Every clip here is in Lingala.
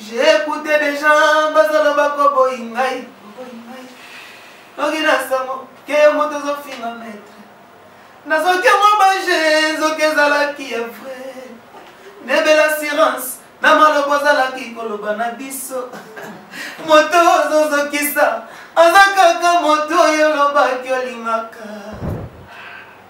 J'ai écouté des gens bazoloba koboyi ngai koboyi ngai noki na sango ke moto ezofinga maître nazoki yango baje nzoki ezalaki ya vrai nebela assurance na maloba ozalaki koloba na biso moto ozozokisa aza kaka moto oyo olobaki olingaka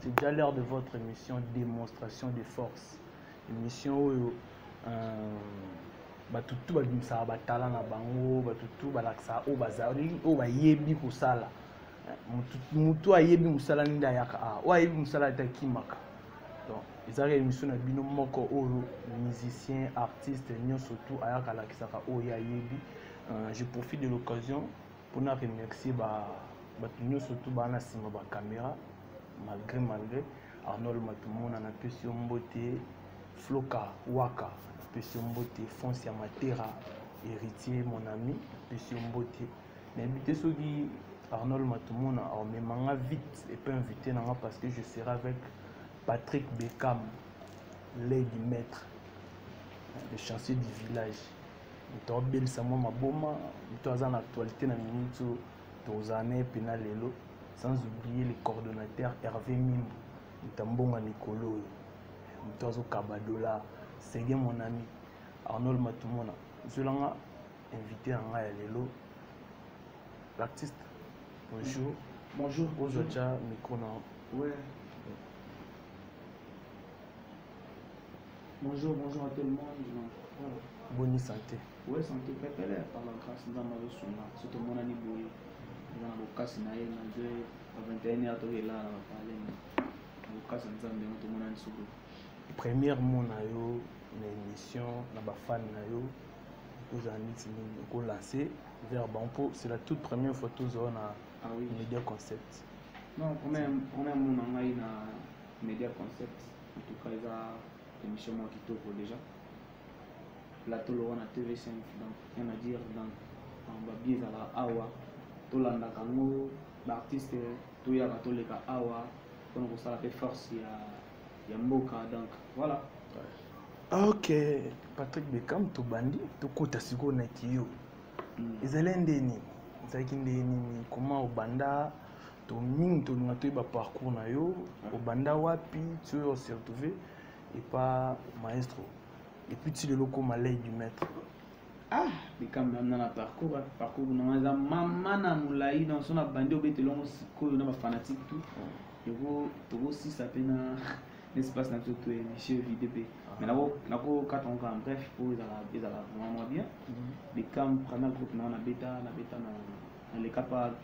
C'est déjà l'heure de votre émission démonstration de force. Émission oyo euh, bato tu babimisaka batala na bango bato tu balakisaka oyo bazali oyo bayebi kosala motu ayebi mosala nde ayaka a oyo ayebi mosala ete akimaka donc ezalaka émission na bino moko oyo musicien artiste nyonso tu ayaka alakisaka oyo ye ayebi euh, je profite de l'occasion mpo na remercier bato nyonso tu baa na nsima bakamera malgré malgré arnold matumona napesi yo mbote floka waka napesi yo mbote fonce ya matera héritier mon ami napesi yo mbote nayebi te soki arnold matumona aomema nga vite epe invité na nga parce que je serai avec patrick beckham lady maître le chanceux du village moto abelisa mwa maboma moto aza na actualité na minute tozala na ye mpena lelo sans oublier le coordonnateur hervé mimbu moto ya mbongo ya mikolo oyo moto azokaba dollar sege mon ami arnold matumona zwelanga invité na ngai ya lelo l'artiste bonjour bonjour ozwa tya micro na ouais. Bonjour, bonjour à tout le monde. Voilà. Bonne santé. Oui, santé pepele par la grâce nzambe azosunga so tomonani boye eza na bokasi na ye na 2 21 heure toke elala na bapale na bokasi ya nzambe yango tomonani soko première mot na yo na émission na bafane na yo okozala neti nini okolance vers bango mpo c'est la toute première fois tozala na ah media concept non première mot na ngai na media concept en tout cas eza émission moko kitoko déjà plateau lowa na tv5 donc rien à dire donc babie ezalaka awa tolandaka yango baartiste toyaka toleka awa mpona kosala mpe force ya, ya mboka donc voilà ok patrick beckham tobandi tokota sikoyo na kiyo mm. ezali nde nini ezalaki nde nini koma obanda to mingi tolinga toyeba parcours na yo obanda wapi ti oyo ose retrouve epa maestro epuis ti lelo okoma lei du maître ah likambo yamna na parcours ah, parcours nanga eza mama na molai na so na bandi obeta elongo sikoyo na bafanatique tout oh. tokosisa mpe na espace na biso to émission vide mpe mais nakokata yango kaka bref mpo ezala vraiment mwa bien likambo mhm. première groupe nanga nabeta nabeta na leka pa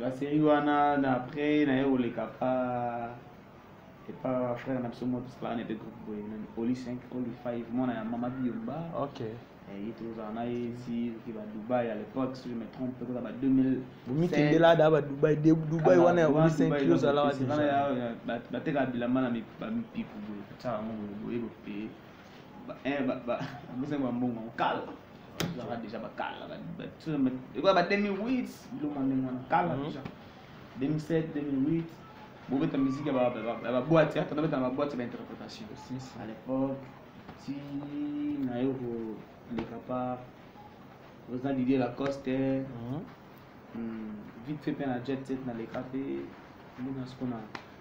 la série wana na après naye koleka pa epa frère na biso moko tosalaka na epe groupe boye nani oli 5 oli 5 mwana ya mama biomba ok Eh, ye tozala na ye ti oke ba dubai à l'époque si je me trompe koza ba 2000 bomikendela ada ba dubai de dubai wana ya oli 5 kilo ozalaka deja bateka bilamba na mi- ba mipiku boye batya yango boye boye boye eh, bapesaki bambongo kala ezalaka déjà bakala ekoya ba 2008 biloko ndenge wana kala mhm. déjà 2007 2008 bobeta musique ya baboite ata nabeta na baboite ya bainterprétation à l'époque ti naye koleka par oza didier lacoste mhm. hmm, vite fait mpe na jet set naleka mpe ndenge na siko na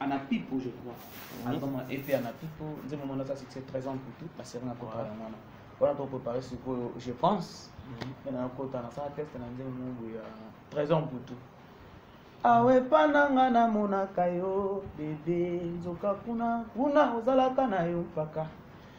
ana pipo je crois mhm. album ep ana pipo nzembo mwana aza succès 13 ans kutu baseri na kota yango wana wana to préparé sikoyo je pense mpe mhm. nakota nasala teste na nzembo mobu ya 13 ans kutu awe epa na nga namonaka yo bebe nzoka kuna kuna ozalaka na yo mpaka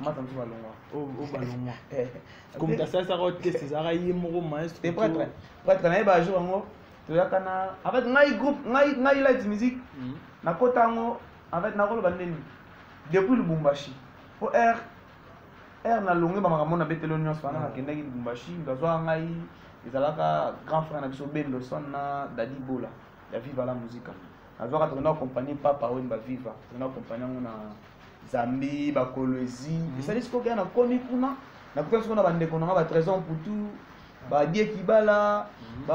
mata mosusu balongwa o balongwa komita asalisaka o test ezalaka ye moko maestro te prêtre prêtre naye bajour yango toyaka na en fait ngai groupe ngai ngai light musique hmm. nakota yango en fait nakoloba ndeni depuis lubumbashi mpo r r nalongi bamakambo na betelo nyonso wana hmm. nakendaki lubumbashi ndazwaka ngai ezalaka grand frère na biso bendoson na dadi bola ya viva la musica azwaka toke na kompani papa oyo baviva toke na kompani yango na zambie bakolwezi mhm. esali sikoyo kaka nakomi kuna nakutani sikoyo na bandeko nanga ba trésor mputu badie kibala mhm.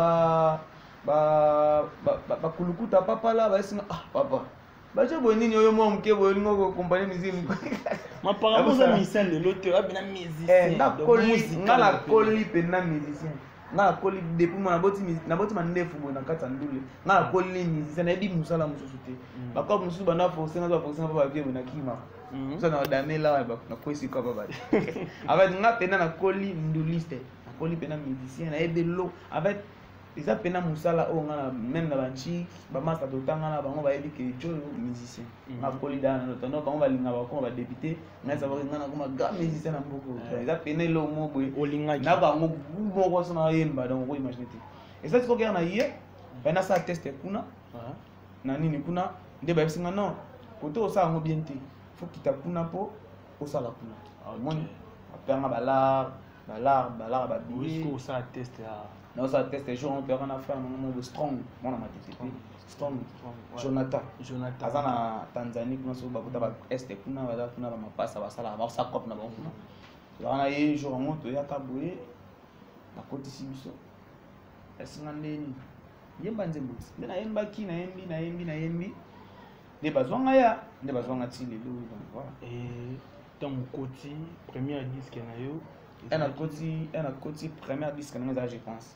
bakulukuta papala baesinga ah papa batie boye nini oyo mwa moke boye olingi okokompane miziki maparabo oza musicien lelo te abina musicien eh, nga nakoli mpenza musicien nga nakoli depuis mwana naboti mandefu boye na kati ya ndule nga nakoli ni musicien nayebi mosala mosusu te mm. bakope mosusu banda force nga za force nga pa bavie boye nakima mm. mosa na damela nakwesi kapa bati en fait nga mpena nakoli nduliste nakoli mpena musicien nayebi lo en fait eza mpena mosala oyo nga meme na banchi bamasta totanga na bango bayebi ke joyo musicien mm. nakoli dana notando bango balinga bakoma badepute ngai sabaki ngai nakoma ga musicien na mboka eh. eza pene eloko moko boye olingaki na bango gu moko so nayemba donc okoimagine te eza ti kokea na ye bai nasala teste kuna ah. na nini kuna nde bayebisi ngai non kote osala yango bien te fo kita kuna mpo osala kuna ah, omoni apeyanga balar balar balar babiosala teste jour mpe wana frère nango moko strong mwana matete Strong. Strong, ouais. Jonathan. Jonathan. aza na tanzanie kuna soki bakota ba este kuna baza kuna bamapasa basalaka bakosa cope na bango kuna tozalaka na ye jour yango toyaka boye bakotisi biso esinga ndeni yemba nzembo ti nde nayembaki nayembi nayembi nayembi nde bazwa ngai ya nde bazwa ngai ti lelo oyo donc voilà Et ntango okoti première disque na yo un akoti un akoti première disque na ngai eza je pense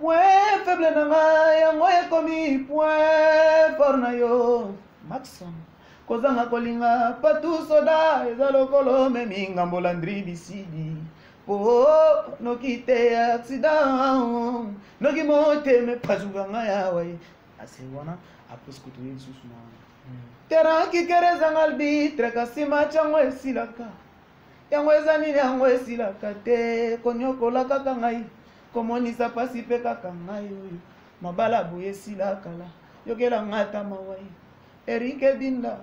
Point faible na nga yango ekomi point fort na yo Maxon kozanga kolinga patu soda eza lokolo memi ngambo landri bisidi po noki te accident noki motema epasuka nga yawa ye ase wana apres kutu ye lisusu na wana hmm. terrain kikere ezanga albitre kasi match yango esilaka yango eza nini yango esilaka te konyokola kaka ngai komonisa mpasi mpe kaka ngai oyo mabala boye esila kala yokela ngai ata mawa ye erike binda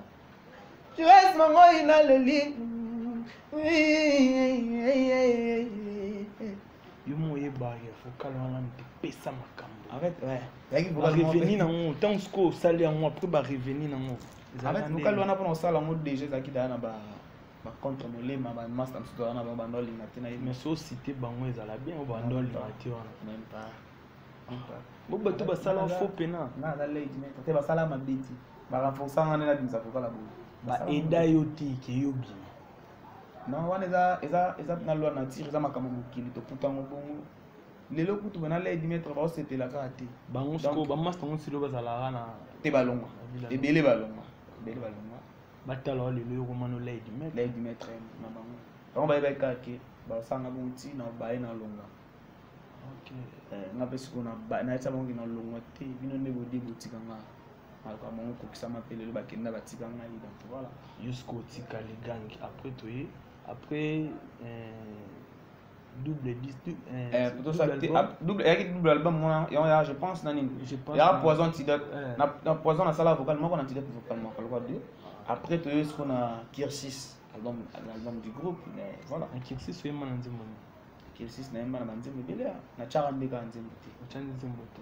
joes mongoi naleli yo moyeba ya vokal wana mpe pesa makambo reveni na yango ntango sikoyo osali yango apres bareveni na yango vokal wana mpona kosala yango deja ezalaki daya na ba ba contre molema ba master msutu wana ba bando linga te na ye mais so cité bango ezala bien ba bando linga te wana même pas bo bato basala faux pena na na late mais te basala mabeti ba renforcer ngana na bimisa kokala bo ba eda yo te ke yo bien non wana eza eza eza na loi nature eza makambo mokili tokuta yango bongo lelo kutu bana lei dimetre baosepela kaka te bango siko bamasta yango silo bazalaka na te balongwa ebele balongwa ebele balongwa batala wa lelo yoko mano lei du maître lei du maître na bango bango bayebaki kaka ke basanga bongo ti na baye na longa eh, nga mpe sikoyo nayetisa bango ke na longwa te bino nde bodi botika nga maluka bango kokisama mpe lelo bakenda batika ngai donc voilà jusqu'otika ligangi après toye après eh, double disque euh, eh, plutôt ça double album. double yaki double album mona yango ya je pense na nini Je pense yaka na- poison antidote Eh. na na poison nasala vocal moko na antidote vocal moko lokola deux après toyei siko na kirsis album na album du groupe mais voilà na kirsis oyemba na nzembo nini kirsis nayemba na banzembo ebele ya- na tyaka nde kaka nzembo te otya nzembo te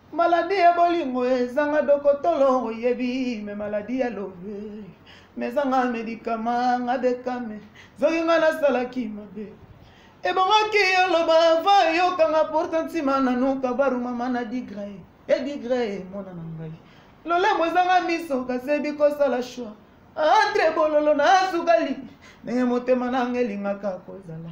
Maladi ya bolingo ezanga dokotolo oyebi me maladi ya love mezanga medikama nga bekame zoki nga nasalaki mabe ebongaki oloba va eyokanga porta ntima nanuka baru mama na digre e digre emona na ngai lolemo ezanga miso kasi ebi kosala shwa entre bololo na sukali ndenge motema nanga elingaka kozala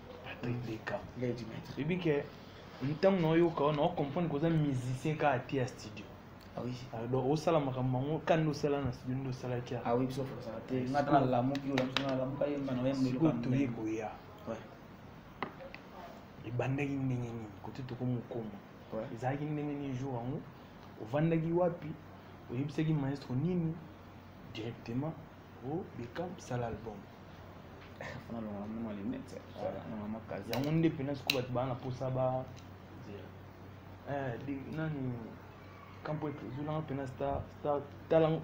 patrick mm. leka ebi ke ntango naoyoka wana ocomprendre koza musicien kaka te ya studio ah ah, donc osala makambo yango ka nde osala na studio nde osalaki ah toye koya ebandaki ndenge nini kote tokomokoma ezalaki ndenge nini jour yango ovandaki wapi oyebisaki maestro nini directement oh Beckham sala album fana longola mwa lunette longola mwa kazi yango nde mpena sikoyo bato baa na mposa ba eh, nani kampo ezolanga mpena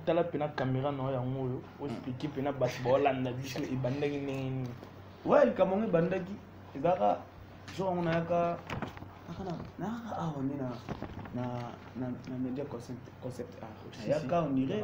tala mpena kamera na yo yango oyo oexplike mm. mpena bato baolanda biso ebandaki ndenge nini we likambo yango ebandaki ezalaka jour yango nayaka nayaka awa nde na media concept art nayaka ondire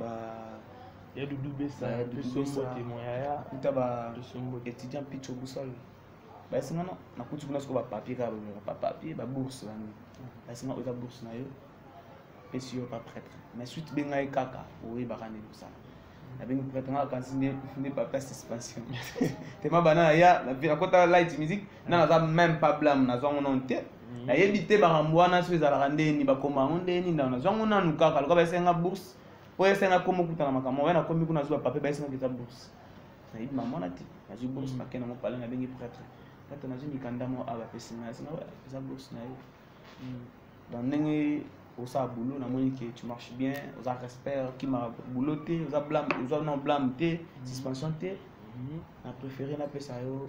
ba ya dudu besa Ba ya Dudu biso Besa. mbote moyaya kuta ba biso mbote étudiant picho busol basinga na nakuti kuna siko bapapier kaka bameka bapapier babourse bani basinga oza bourse na yo pesi yo pa prêtre mais suite be ngai kaka oyebaka nde kosala nabengi prêtre ngai akanisi nde nde papier ya suspension tema bana na ya nakota light musique nga naza meme pas blame nazwa ngo nanu te mm. nayebi te bakambo wana soki ezalaka ndeni bakoma yango ndeni ndao nazwa ngo nanu kaka lokola baesenga bourse mpo esenga komi okutana makambo oya nakomi kuna nazwa papier baesenga okita bourse nayebi mamona te nazwi bourse mm. nakende yango pale nabengi pretre pretre nazwi mikanda moko awa bapesi ngai asenga eza bourse na yo mm. donc ndenge osala boulot namoni ke tu marche bien oza respect okima boulot te oza blame oza non blame te suspension te na préféré napesa yo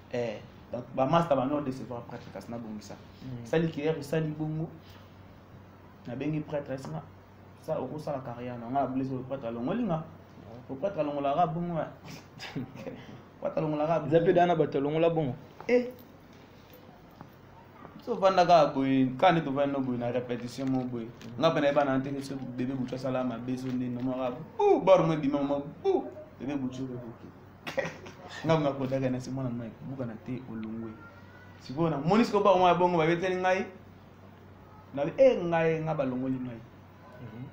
eh donc ba master ba nord décevoir prêtre kasi na bongisa mm. sali kier sali bongo na bengi prêtre esinga ça au ça la carrière na nga blessé le prêtre alongoli nga le prêtre alongola nga bongo wa prêtre alongola nga za pe dana bato alongola bongo eh so vanda ka boye ka ne to vanda boye na répétition mo boye mm. nga pena ba na nteke so bébé bucha sala ma bezo ne no mara bu bor mo bima mo bu bébé bucha ko ngai nakodaka na simona mai buka na te olongwe sikoyo namoni sikoyo bango ya bongo babeteli ngai nabi e eh, ngai ngai balongoli ngai mhm.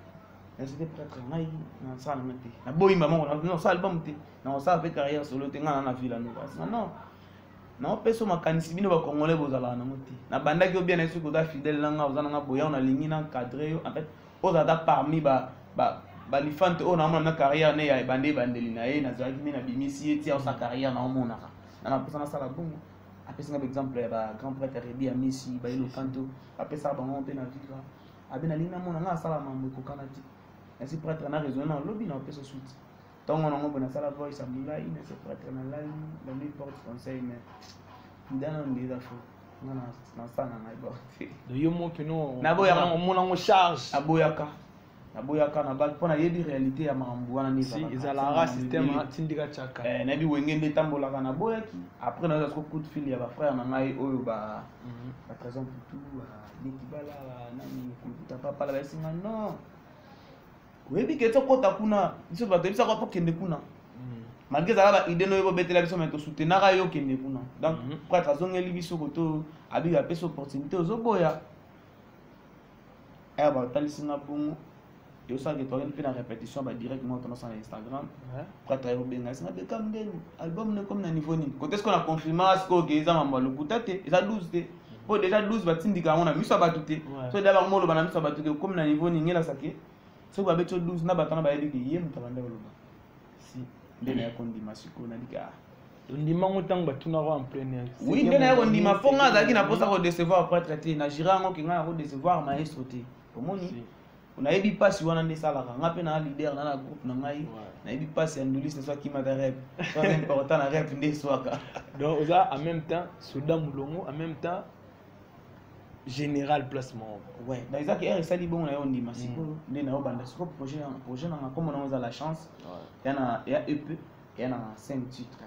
nazete prêtre ngai nasala ngai te naboyi mamango nasala libamu te nakosala mpe carrière solo te ngai na na vila noko asina non naopesa makanisi bino bacongolais bozalaka nango te nabandaki yo bien na ye soki oza fidèle na ngai oza na ngai boya nalingi na cadre yo en fait oza ata parmi ba ba balifante oyo naomona na carrière ne ya ebande ebandeli na ye nazalaki nde nabimisi ye tia osa carrière naomonaka na naposa nasala bongo apesi nga baexemple ya bagrand prêtre rebi ya misi baye lokanto apesaka bango mpe na viva abe nalingi namona nga asala mambo ekokana te nasi prêtre na raisonne na lobi na opesa suite tongo nango mpe nasala voice ya molai na sepratre na lali la nuit porte conseil mais ndana nde eza fo nga nasana na borte yo mope no naboyaka omona ngo charge aboyaka naboyaka na bal mpo nayebi réalité ya makambo wana ezalaka système atindika tiaka eh, nayebi wenge nde etambolaka naboyaki après nayoka soko coup de fil ya bafrère na ngai oyo ba mhm. batrésor putu ba dekibala nani komputa papala bayesinga non oyebi ke tokota kuna biso bato yebisaka wapo kende kuna mm. malgre ezala baide noyo bobetela biso mai tosutenaka yo kende kuna donc mhm. prêtre azongeli biso koto abiga apesi opportunité ozoboya aya eh, batalisi nga bongo tosalaki toyaki mpe na répétition badirectement tondasa na instagram prêtre aye kobenga esinga bekam ndeni album nekomi na niveau nini kote sikoyo na confirma sikoyo ke eza mambo ya lokuta te eza 12 te oyo deja 12 batindika yango na miso ya bato te so deja bango moloba na miso ya bato te okomi na niveau nini ngelasa ke soki babeti yo 12 na bato wana bayebi ke ye moto abanda koloba si nde naya kondima sikoyo naliki a ondima yango ntango batunaka en première oui nde naya kondima mpo ngai azalaki na mposa kodecevoir prêtre te na jira yango ke ngai nakodecevoir maestro te omoni nayebi mpasi wana nde esalaka nga mpe naa leader na na groupe na ngai nayebi mpasi ya nduliste so akimaka rep so important na rep nde eswaka donc oza en même temps soda molongo en même temps général place moko ouais donc ezaki heure esali bongo na yo ondima mm. sikoyo nde na yo banda sikoyo projet nanga nkombo nango eza la chance ya na ya ep ya na 5 titre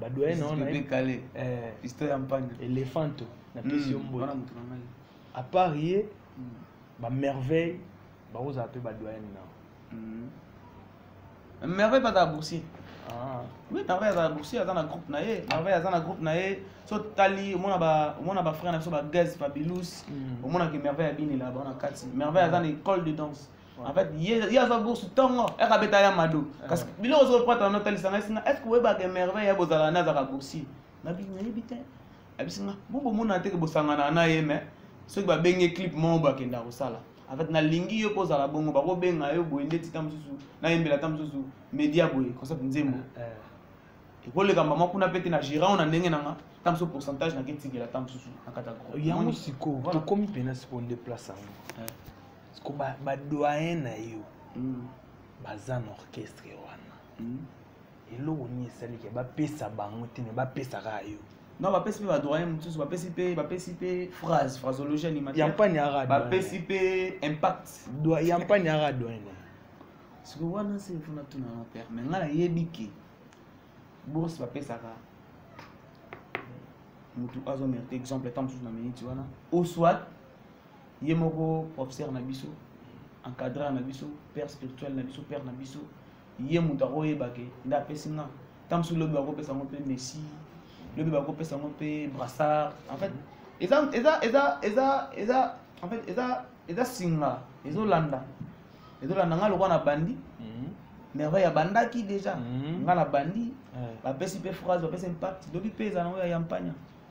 ba doyen na wana pepe kale eh histoire ya mpande elefanto na pesi yo mbote à part ye hmm. ba merveille ba oza pe ba doyen na hmm. merveille pas ta boursier ah. oui merveille aza na boursier aza na groupe na ye merveille aza na groupe na ye so tali omona ba omona ba frère na biso ba gaz fabilus hmm. omona ke merveille abini là ba na kati merveille aza na école de danse en fait ye aza bourse ntongo eke abeta ya mado kasi biloko soki opata na otalisa ngai singa estce oyebaka emerveille ya bozala na azaka boursi nayebi te abisi nga bo bomona te ke bosanganaka na ye mais soki babenge clip moko bakenda kosala en fait nalingi yo mpo ozala bongo bakobenga yo boye ndeti ta mosusu nayembela ta mosusu media boye concept nzembo eh, eh. ekoleka mama kuna mpe te na gérant na ndenge na nga ta mosusu pourcentage naketikela ta mosusu na kata yango sikoyo tokomi mpena sikoyo nde place yango eh. siko badoyen na yo hmm. baza na orchestre wana hmm. eloko nini esalike bapesa bango te me bapesa kaka yo non bapesi mpe badoyen mosusu bapesi mpe bapesi mpe phrase phrasologie animatireyampani yaka bapesi mpe impact yampani yaka doyen siko wana se fona tuna na père me ngai nayebi ke bourse bapesaka motu azo mérite exemple ntango mosusu na miniti wana oswat ye moko professeur na biso encadreur na biso père spirituel na biso père na biso ye moto akoyeba ke nde apesi nga ntango mosusu lobi bakopesa yango mpe messi lobi bakopesa yango mpe brassard en fait eza eza eza eza eza en fait eza eza singa ezolanda ezolanda nga lokola na bandi mhm. merveille abandaki déjà mhm. nga na bandi bapesi mpe phrase bapesi impact lobi mpe eza nango ya yampania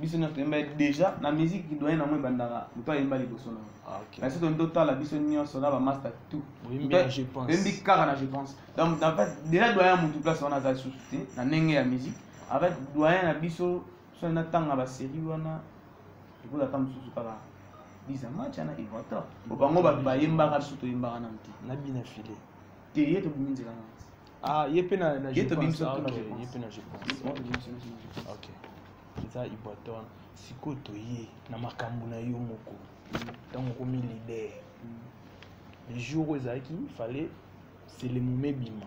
biso nyonso toyemba déjà na musique doyen nango ebandaka moto ayemba liboso nango ah, na biso toni totala biso nyonso na bamaster tout oyembi kaka na je pense donc déjà doyen ya motu place wana aza lisusu te na ndenge ya musique avec doyen na biso so natanga basérie wana ekozaka mosusu kaka biza match ana evator po bango bato bayembaka biso toyembaka nanu te nabina file te ye tobimi nzela na Ah, ye mpe na na Ye to bimisa Ah, tuna ok, réponse. ye mpe na je pense. Moi, je suis- je suis- ok eza iboaton sikoyo toye na makambo na yo moko ntango okomi leader le jour oyo ezalaki fallait selemome ebima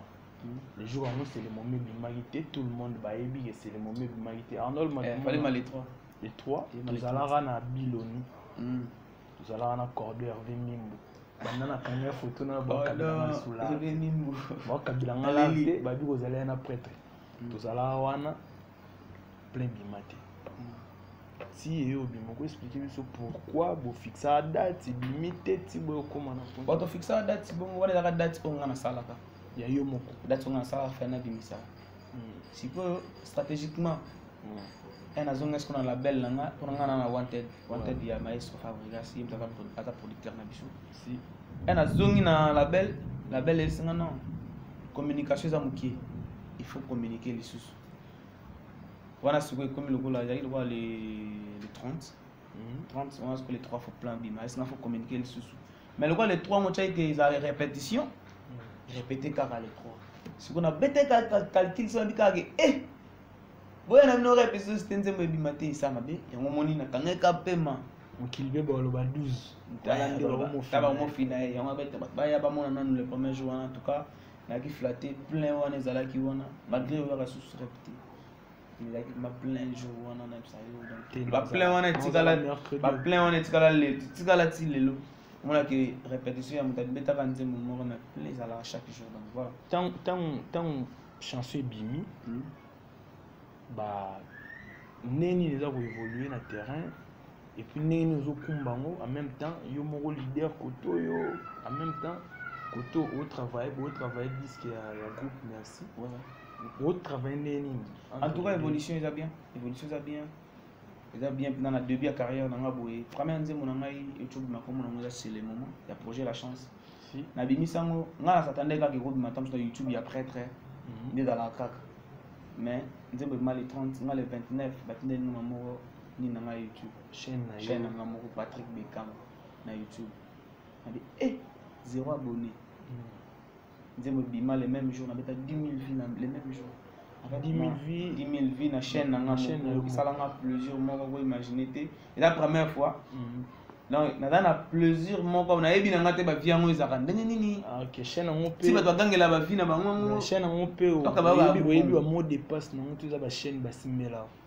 le jour yango selemome ebimaki te tout le monde bayebi ke selemome ebimaki te arnold Eh, fallait Matumona, mal les trois. le 3 Ye Maletwa. tozalaka na biloni Mm. tozalaka na cordo herve mimbu banda na kanga ya foto na bakabila nga la te babi kozala ya na pretre mm. tozalaka wana plein bima te mm. ti eye obima okoexplike biso pourquoi bofixaka date ebimi te ti boye okoma na po bato fixaka date bongo wana ezaka date oyo nga nasalaka ya yo moko date oyo nga nasalaka fai nabimisaka sikoyo stratégiquement un hmm. azonga siko na label na nga mpona nga na na wanted wanted ya maestro fabrigas ye moto aza producteur na biso un azongi na label label eyebisi nga non communication eza moke il faut communiquer lisusu wana sikoyo ekomi lokola ezalaki lokola le 30 30 wana sikoyo le 3 fo plan bima esi nga fo communiquer lisusu mais lokola le 3 ngo tia ete eza repetition hmm. repete kaka le 3 siko na bete calcul so nabi kaka ke eh boya na bino repetition site nzembo ebima te esa mabe yango moni nakangaki ka pema mokili mpe baloba 12tabakomofina ye yango abete bato baya bamona nanu le premier jour wana en tout cas nayaki flatte plein wana ezalaki wana malgré oyaka susu repete baplein wana etikala baplein wana etikala lelo etikala ti lelo omonaki répétition ya moto abetaka nzembo moko na plein ezalaka chaque jour donc voilà ntango chanson ebimi hmm. ba ndenge nini eza koévolue na terrain et puis ndenge nini ozokumba yango en même temps yo moko leader koto yo en même temps koto otravaille botravaille disque ya, ya groupe merci botravaille ndenge nini en tout cas évolution eza bien évolution eza bien eza bien mpenza na début ya carrière na ngai boye première nzembo na ngai ecobima kombo na yango eza c'est le moment ya projet la chance nabimisi yango ngai nasatandaki kaka ekobima ntango na youtube ya prêtre mhm. nde ezalaka kaka mais nzembo ebima le 30 ngai le 29 batindeli numa moko nini na nga youtube chaîne na chaîne na nga moko patrick beckham na youtube nabi eh zéro abonné hmm. nzembo ebima le même jour nabeta 10 000 vues na le même jour 10 000 vues 10 000 vues na chaîne na nga moko esala nga plaisir moko ko imaginer te eza première fois hmm. donc naza na plaisir moko nayebi na nga te bavie yango ezalaka ndenge nini ah, ti bato bagangela bavie na bango yango oyebi bamot de passe nango to eza bachaîne basimbelaka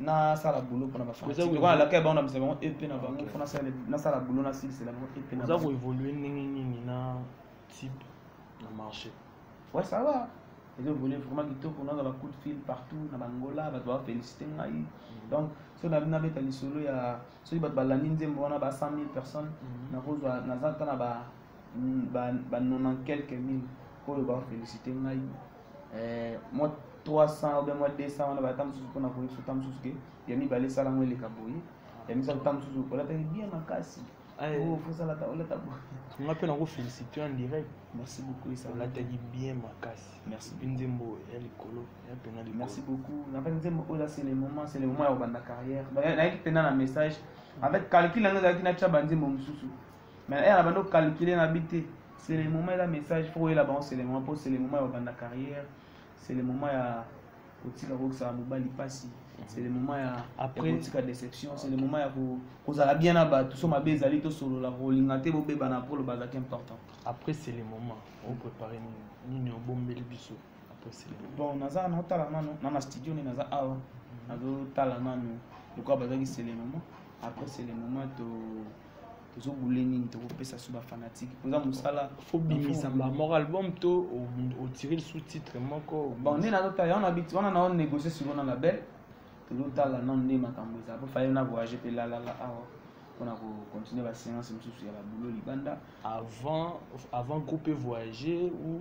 nasala boulot mpona bafanalaka bango na bisa bango ep na bango mpo nasala boulot nasilisela bango ep na oza koevolue ndenge nini na type na marché ouais ça va ezo évolue vraiment kitoko nazala coup de fil partout na bangola bato bafélicité ngai mm. donc soki nabi nabeta lisolo ya soki bato balandi nzembo wana ba 100 000 personnes mm. nakozwa naza ata na ba ba 90 quelques mille oyo bafélicité ngai eh, mwa 300 obe mwa 200 wana bata mosusu mpona koyesu ta mosusu ke ya mibale esala yango eleka boye ya misato ta mosusu olataki bien makasi osalata olata boye nga mpe nakofélicite en direct merci beaucoup esalataki bien makasi merci mpe nzembo ya likolo ya mpena likolo merci beaucoup na fait nzembo oyo là c'est le moment c'est le moment ya kobanda carrière nayaki mpena na message en fait calcul yango ezalaki natya banzembo mosusu mais ere abandi ocalcule na bi te c'est le moment eza message fo oyela bango c'est le moment mpo c'est le moment ya kobanda carrière c'est le moment ya kotika kokisaka mobali mpasi c'est le moment ya après kotika déception c'est le moment ya kozala bien na bato so mabe ezali tosolola kolinga te bobebana mpo oloba azalaki important après c'est le moment oprépare nini obombeli biso bon naza naotala nano na na studio nde naza awa mm. nazotala nano lokola bazalaki c'est le moment après c'est le moment to tozo bule nini tokopesa so bafanatique mpenza mosala fobimisa moko album to otire lisu titre moko bon nde nazotala wana biti wana nao négocie siko na label tozotala nano nde makambo eza po faye na voyage mpe lalala awa mpona kocontinue baseance mosusu ya babulo libanda avant avant groupe voyager ou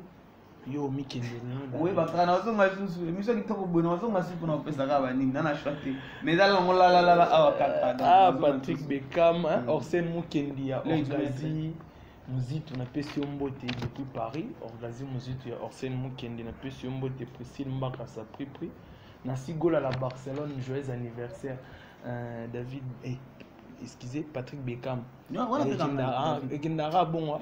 yo mikende oyebaka nazonga lisusu emission kitoko boye nazonga si mpona kopesaka banini na na choix te mais eza longo lalalala awa kaka ah patrick beckham mm. orsene mukendi ya orgazi muzitu napesi yo mbote depuis paris orgazi muzitu ya orsene mukendi napesi yo mbote priscille mbaka sapripri na sigola la barcelone joyeux anniversaire euh, david eh, excusez patrick beckham ekendaka bongo ah,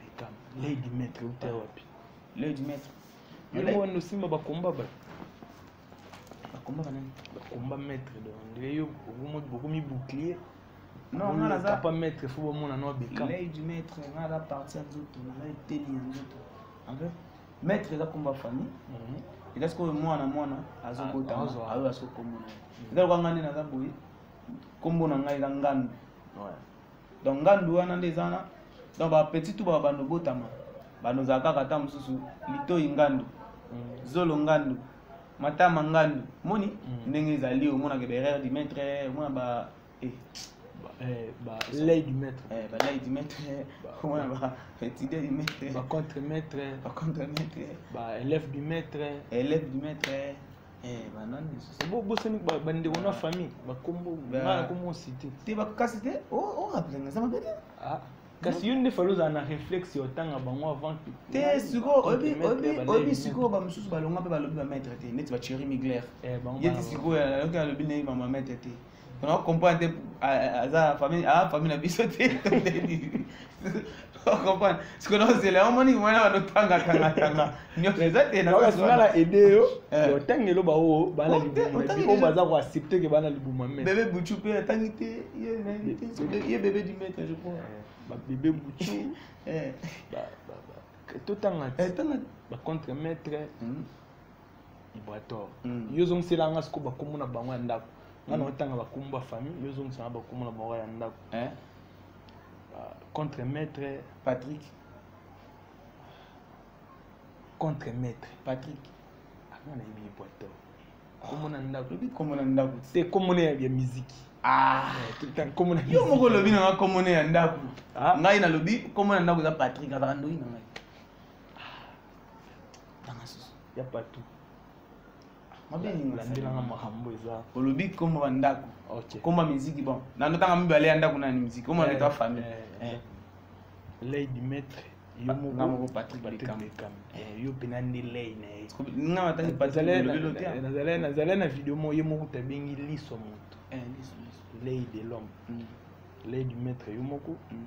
Beckham, Lady Maître, uta wapi? Lady Maître. Yo wana osimba ba combat ba. Ba combat nani? Ba combat maître donc ndire yo bokomo bokomi bouclier. Non, nga naza pas maître faut bomona no Beckham. Lady Maître, nga la partie nzoto, na teli nzoto. En fait, maître eza combat famille. Mhm. Eza sikoyo mwana mwana azokota ah, ayo asokomona. Eza lokanga nde naza boye. Kombo na ngai eza ngando. Ouais. donc ngandu wana nde eza wana donc bapetit tu babanda obotama banda ozala kaka ata mosusu litoi ngandu mm. zolo ngandu matama ngandu moni mm. ndenge ezali omonaka berere du maître omona ba eh. Eh, balei du maître eh, balei du maître omona baétudier du maître bacontre maître bacontre maître baélève du maître élève du maître Eh, banani lisusu bo bosani ba- bandeko na famille bakombo Ba- ngaa nakomi osite te bakokasi te orapelanga eza mabe te kasi yo nde fali ozala na réflexe ya otanga bango avant que- te sikoyo oyebi- Contre-maître oyebi- ya oyebi Baleine. sikoyo bamosusu balonga mpe balobi bamaitre te neti bacheri migler Eh, bango ye ti bana- sikoyo aloki alobi ndenge bamamaitre te on a comprendre te aza ah, famille ah famille na biso te comprendre ce que nous zela omoni mwana ba tanga tanga tanga nyoso eza te na kasi na aider yo eh. yo tangi lo ba o ba na libuma o ba za ko accepter que ba na libuma mais bébé buchu pe tangi te ye na te ye bébé du maître je crois eh, ba bébé buchu eh ba ba ba tout tanga eh, tanga ba contre maître hmm. ibrator mm. yo ozongisela nga sikoyo bakombo na bango ya ndako nga na mm. otanga bakombo ba famille yo ozongisa nga bakombo na bango ya ndako eh? ah, contre maître patrick contre maître patrick anga ah, nayebi ibrator kombo na ndako lobi kombo na ndako te kombo na ya miziki ah. eh, yo moko olobi na nga kombo na ya ndako ah. ngai nalobi kombo na ndako eza patrick azalaka ndoi na ngai tanga susu ya patu mabelandelanga makambo eza olobi komba bandako komba miziki bon nano tanga mibale ya ndako nani miziki omona eh, leta famille eh, eh. lei du maître yo moko patrick becam yo mpena nde lei na ye nga mataki patricknazalai nazalai na video moko ye moko tabengi liso moto lei de l'homme mm. lei du maître yo moko mm.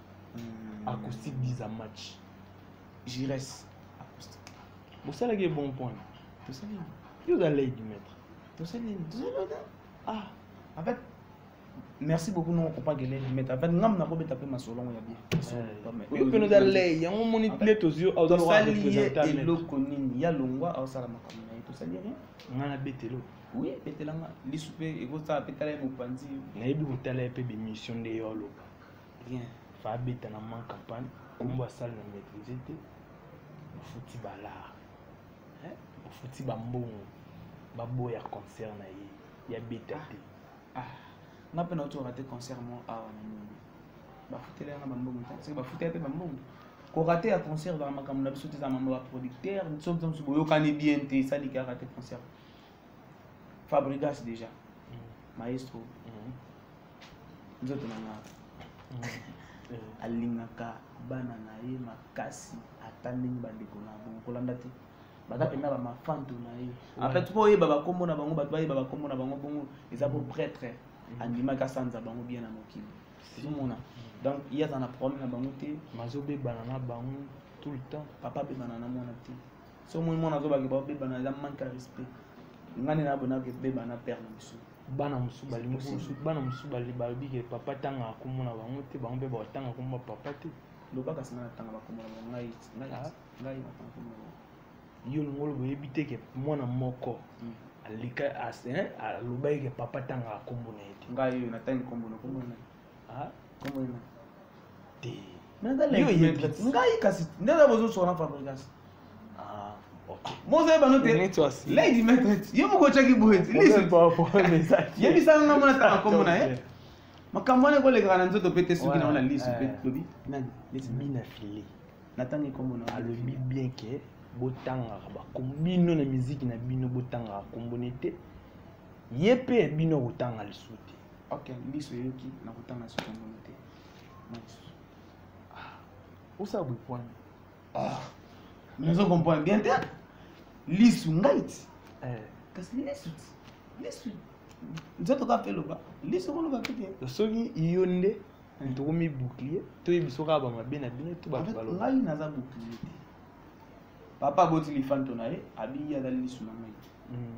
hmm. acoustique biza match gires acoustique bosalaki bon point tosali yo oza lei du maître tosali tosali ah en fait merci beaucoup nongo kopaka elei du maître en fait ngambo nakobeta mpe masolongo ya bien mpe noza lei yango omoni nde tozwi ozosali ye eloko nini ya longwa aosala makambo na ye tosali rien ngai nabetelo oui ebetelanga lisu mpe ekosala mpe tala ye mopanzi nayebi kotala ye mpe bemission nde yo aloba bien fa abeta na man campagne kombo asali na maîtrise te mofuti balar mofuti bambongo baboya concert na ye ya beta te ah, ah. nga mpe nauti orate concert mo awa na nini bafutela yanga bambongo te soki bafutela mpe bambongo korate ya concert ezaka makambo na biso te eza mambo baproducteur soki biso mosusu boyokani bien te esali kaka te concert fabrigas déjà mm. maestro mm. nzoto na nga eh. alingaka bana na ye makasi ata ndenge bandeko na bango kolanda te baza mpenza bamafanto na ye en fait mpo oyeba bakombo na bango bato bayeba bakombo na bango bongo eza po prêtre mm. andimaki asanza bango bien na mokili ozomona mm. donc ye aza na problème na bango te mazobebana na bango tout le temps papa abebana na mwana te so omoni mwana azobaki baobebana eza manque ya respect ngai nde nabonaki ebebana père na biso bana mosusu balingi mosusu bana mosusu balobi ke papa tangaka nkombo na bango te bango mpe batanga nkombo ya papa te loba kasi ngai natanga bakombo na bango ngai ngai ah. natanga nkombo na bango yo olingi oloba oyebi te ke mwana moko hmm. alika alobaki ke papa tangaka nkombo na ye te ngai oyo natangi nkombo na nkombo na ah comment il te ngai kasi nde na bozosona fabrigas ah, mozoyeba no te lady metret ye moko otyaki boyeyebisanga nga mona tanga nkombo na ye makambo wana ekolekaka na nzoto mpe te soki na wana lisu mpe lobi nani mina file natangi nkombo na alobi bien ke botangaka bakombo bino na miziki na bino botangaka kombo ne te ye mpe bino akotanga lisusu te ok miso eyoki na kotanga soki omoni te miso ah, osala boye pwani ah, nazo comprendre bien te lisu ngai ti eh. kasi lisu ti lisu nzoto kaka mpe loba lisu koloba mpe te soki yo nde eh. tokomi bouclier toyebi soki aba mabe na bino to bato baloba ngai naza bouclier te papa aboti lifanto na ye abingi azali lisu na ngai hmm.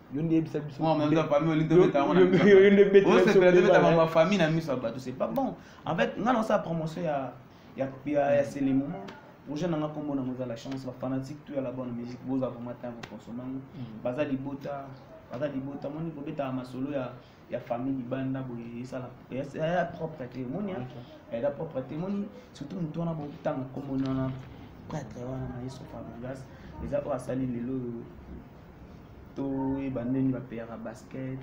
yo nde yebisa biso yo nde betaka bafamille na miso ya bato c'est pas bon en fait ngai naosala promotion ya ya sele moment projet nanga nkombo nango eza la chance bafanatique to ya la bonne musique boza vraiment ntango kosombango baza libota baza libota moni kobetaka masolo ya ya famille libanda boye esala ya propre te omoni eza propre te omoni surtout motu wana botanga komona wana prêtre wana na yesu fabrigas eza oyo asali lelo oyo toyeba ndeni bapeyaka basket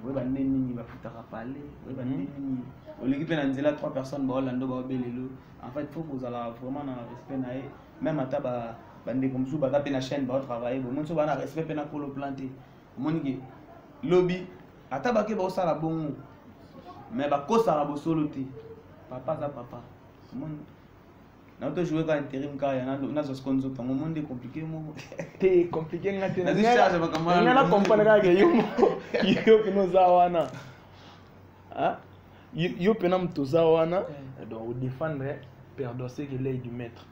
oyeba nde nini bafutaka pale oyeba nde mhm. nini oleki mpe na nzela trois personnes baolanda baobe lelo en fait faut kozala vraiment na respect na ye même ata bandeko mosusu baza mpe na chaîne baotravaille bomoni so baa na respect mpe na kolo plan te omoni ke lobi ata bake baosala bongo me bakosaka bosolo te papa aza papa omoni na to jouer ka interim ka ya na zo seconde zo tango monde compliqué mo te compliqué nga te na zo charge ba kamara nga na comprendre ka ke yo yo ke no za wana hein yo pe na mtu za wana donc au défendre perdre c'est que l'œil du maître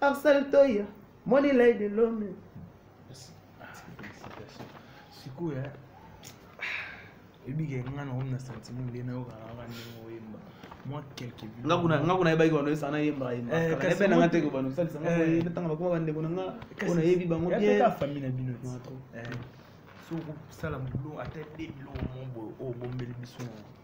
Arsène Toya, Money Lady Lome. sikoyo ebike nga na omi na sentiment nde nayokaka kaka ndenge oyemba mwa quelque nga kuna nga kuna yebaki bano esana yemba yemba Eh, kala kasi yebena nga mwa- te ko bano salisa nga Eh. boye natanga bakoma bandeko na nga oyo nayebi bango bien yateka famille na bino Non, trop. Eh, soki okosala bulo ata de biloko moko boye oyo obombeli biso na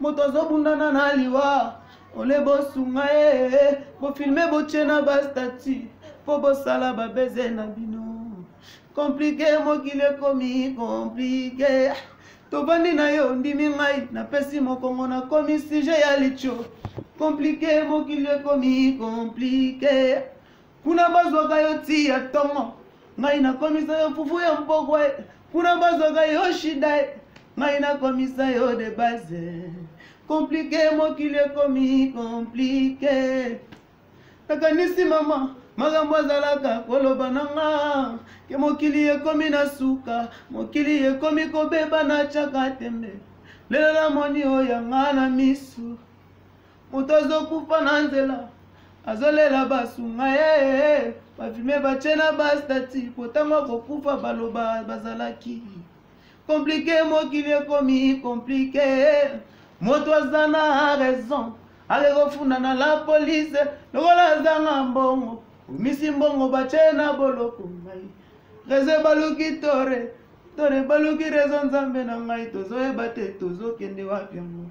moto azobundana na liwa ole bosunga ye bofilme botye na bastati mpo bosala babeze na bino komplike mokili ekomi komplike tobandi na yo ondimi ngai napesi mokongo nakomi sije ya litio komplike mokili ekomi komplike kuna bazwaka yo ti ya ntongo ngai nakomisa yo fufu ya mpokwa kuna bazwaka yo shida e ngai nakomisa yo de base komplike mokili ekomi komplike nakanisi mama makambo azalaka koloba na nga ke mokili ekomi na suka mokili ekomi kobeba na caka tembe lelo namoni oyo yanga na misu moto azokufa na nzela azolela basunga ye bafilme batye na bastati mpo ntango akokufa baloba bazalaki komplike mokili ekomi komplike moto aza na raison ake kofunda na la polise lokola azanga mbongo omisi mbongo batye na boloko ngai rezo ebaluki tore tore ebaluki rezo nzambe na ngai tozoyeba te tozokende wapi yango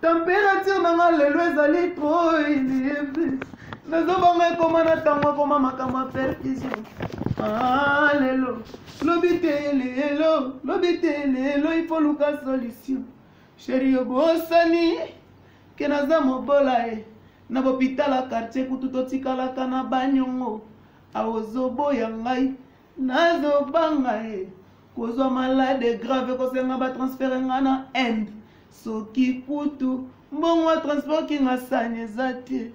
Temperature na nga lelo ezali trop nazobanga ekoma na ntango akoma makambo ya perfusion ah, lelo lobi te lelo lobi te lelo ifo luka solution sheri obosani ke naza mobola ye eh. na bopitala kartier kutu totikalaka na banyongo aozoboya ngai nazobanga ye kozwa malade grave kosenga batransfere nga na inde soki kutu mbongo ya transport kinga sani eza te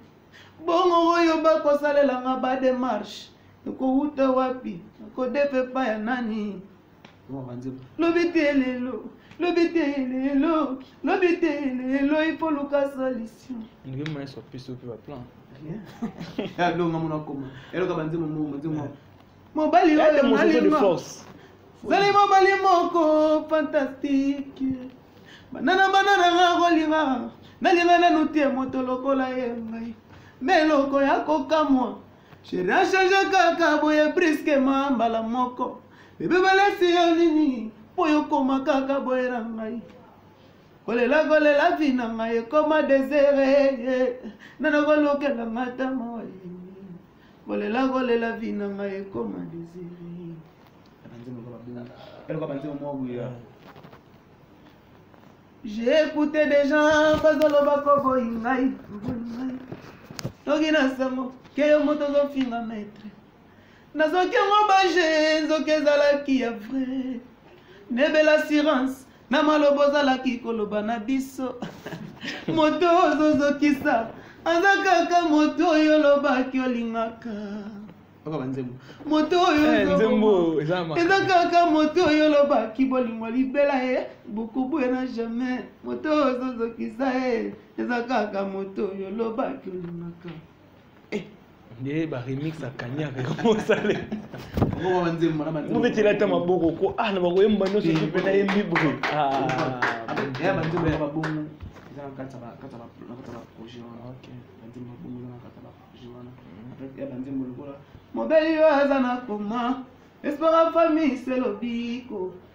bongo oyo bakosalela nga bademarche ekowuta wapi kodepa epai ya nani lobi te lelo lobi te lelo lobi te lelo ipo luka solution ndenge mayeso apesi ope baplan alonga mona koma eloka banzembo mo banzembo mobali Elle est oyo mosusu de nalinga force. zali mobali moko fantastique banana banana nga kolinga nalinga nanu te moto lokola ye ngai me eloko ya kokamwa sheri achange kaka boye briskema mbala moko bebe balesi yo nini mpo yokoma kaka boye na ngai kolela kolela vi na ngai ekoma desere nana kolukela nga ta moyi kolela kolela vi na ngai ekoma desiri j'ai écouté des gens bazoloba koboyi ngai boyi ngai toki na sango ke yo moto ozofinga maître nazoki yango baje nzoki ezalaki ya vrai nebela assurance na maloba ozalaki koloba na biso moto ozozokisa aza kaka moto oyo olobaki olingaka okoba nzembo moto oyo eh, nzembo eza kaka moto oyo olobaki bolingo libela ye bokobuya na jamais moto oyo ozozokisa ye eza kaka moto oyo olobaki olingaka eh. nde ba remix ya kanyaka ekomosale obetela ata maboko ko ah na bakoyemba nyonso eh, mpe nayembi boye mobeli oyo aza na koma espoir ya famille se lobiko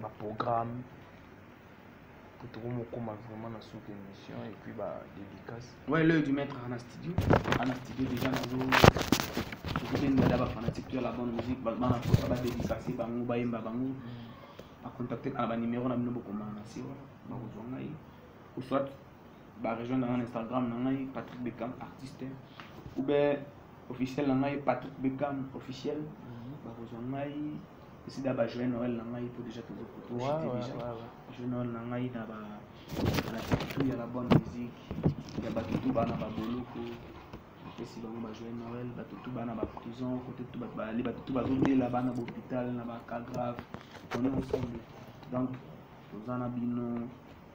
ba programme po tokomokoma vraiment na suka émission et puis ba dédicace ouais l'œil du maître ana studio ana studio déjà nazo soki ndada ba fanatique to ya la bonne musique bana posa ba dédicace bango bayemba bango bacontacte na banimero na bino bokoma na se wana bakozwa ngai ou soit barejoindre ngai na instagram na ngai patrick becam artiste ou bien officiel na ngai patrick becam officiel bakozwa ngai sida ba joyeux noël na ngai po déjà tozo poto j'étais déjà joyeux noël na ngai na ba na tout ya la bonne musique ya ba tout ba na ba boloko esi bango ba joyeux noël ba tout ba na ba prison côté tout ba ba ba tout ba zo dela ba na hôpital na ba cas grave on est ensemble donc toza na bino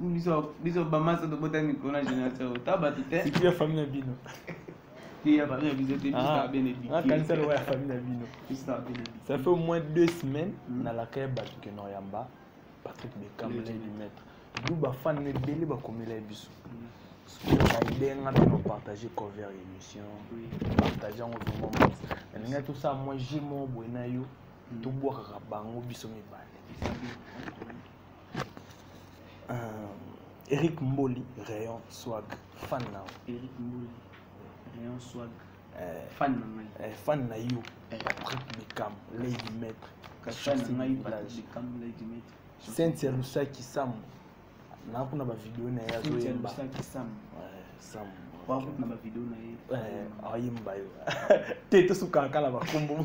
biso biso bamasa tobota mikolo na génération oyo ta bato te sikiya famille na bino ya famille na biso te biso ah, bene bikanisa ah, lokola ya famille na bino biso bene ça fait au moins deux semaines hmm. na lakaya bato ke noyamba patrick bekamle du maître du bafan na ebele bakomela ye biso bayidenga mpe na partage cover émission partage yango vraiment nalinga tosala mwa jemo boye na yo hmm. tobwakaka bango biso mibale Euh, Eric Mboli, Rayon Swag, fan now. Eric Mboli, Rayon Swag, euh, fan na euh, Fan na you, eh. Patrick Beckham, Lady Maître, Kachon Sinaï Plage, Lady Maître, Cynthia Lusaki Sam, na kuna ba vidéo na ya Cynthia Lusaki Sam, Sam. na bavideo na ye ayemba yo te tosukaka kala bakombo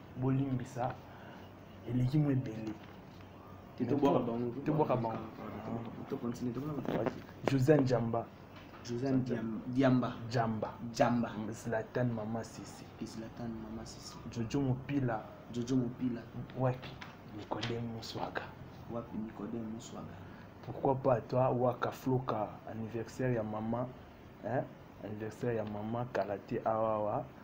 bolimbisa eleki mo ebele tobwaka bango josé njamba josé diamba jamba jamba zlatan mama sisi zlatan mama sisi jojo mopila jojo mopila wapi nikodem muswaga wapi nikodem muswaga pourquoi pas toi waka floka anniversaire ya mama hein? anniversaire ya mama kala te awawa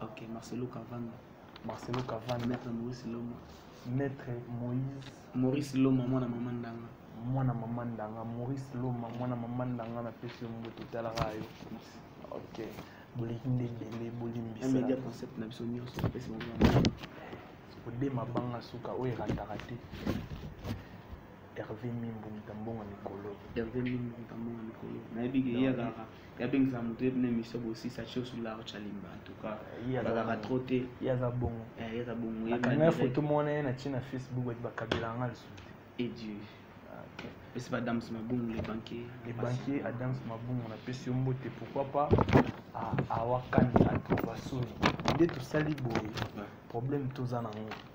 Ok, Marcelo Cavana. Marcelo Cavana. Maître Maurice Loma. Maître Moïse. Maurice Loma, mwana mama ndanga. Mwana mama ndanga. Maurice Loma, mwana mama ndanga na pesi yo mbote talaka yo. Ok. Boleki nde ebele bolimbisa. Un media concept na biso nyonso pesi mwana. Ode mabanga suka oyo erataka te. Hervé Mimbu Mutambonga Mikolo. Hervé Mimbu Mutambonga Mikolo. Nayebi ke yaka. yabengisa moto ye bino emission bosisa tio sur la roche alimba en tout cas bakaka trop te ye aza bongo eh, ye aza bongo nakanga foto mona ye natie na facebook bati bakabela nga lisusu te edieu ah, pesi badams mabungu le banquier le banquier adams mabungu napesi yo mbote pourquoi pas awakani atova soni nde tosali boye problème toza nango